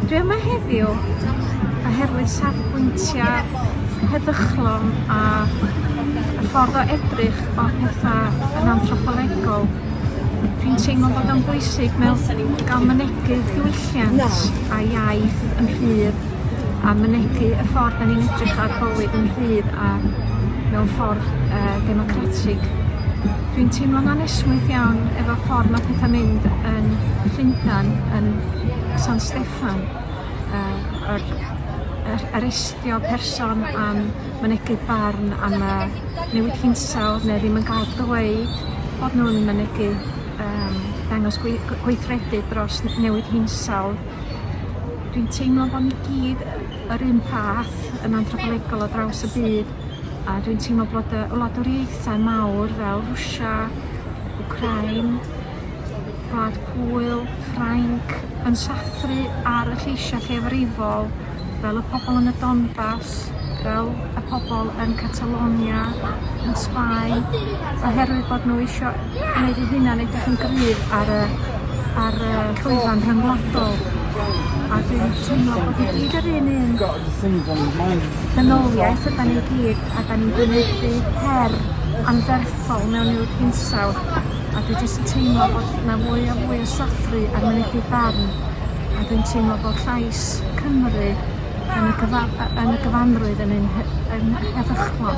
Dwi yma heddiw oherwydd safbwyntiau heddychlon a y ffordd o edrych o pethau yn anthropolegol. Dwi'n teimlo bod o'n bwysig mewn gael mynegu diwylliant a iaith yn rhydd a mynegi y ffordd 'dan ni'n edrych ar bywyd yn rhydd a mewn ffordd yy democratig. Dwi'n teimlo'n anesmwyth iawn efo ffordd ma' petha'n mynd yn Llundan yn San Steffan yy yr yr arestio person am mynegi barn am y newid hinsawdd ne' ddim yn ga'l dweud bod nw'n mynegi yym dangos gwei- gweithredu dros n- newid hinsawdd. dwi'n teimlo bo' ni gyd yy yr un fath yn anthropolegol ar draws y byd a dwi'n teimlo bod yy wladwriaethau mawr fel Rwsia, Wcrain, Gwlad Pwyl, Ffrainc yn sathru ar y lleisia' lleiafrifol fel y pobl yn y Donbas, fel y pobl yn Catalonia, yn Sbaen, oherwydd bod nhw isio gwneud eu hunan edrych yn gryf ar y ar y llwyfan rhyngwladol. A dwi'n teimlo bod ni gyd yr un un ddynoliaeth yda ni gyd, a da ni'n gwynebu her anferthol mewn i'w hinsawdd. A dwi jyst yn teimlo bod 'na fwy a fwy o sathru ar mynegi barn a dwi'n teimlo bo' llais Cymru yn y cyfa- yy yn y gyfanrwydd yn ein he- yn he- heddychlon.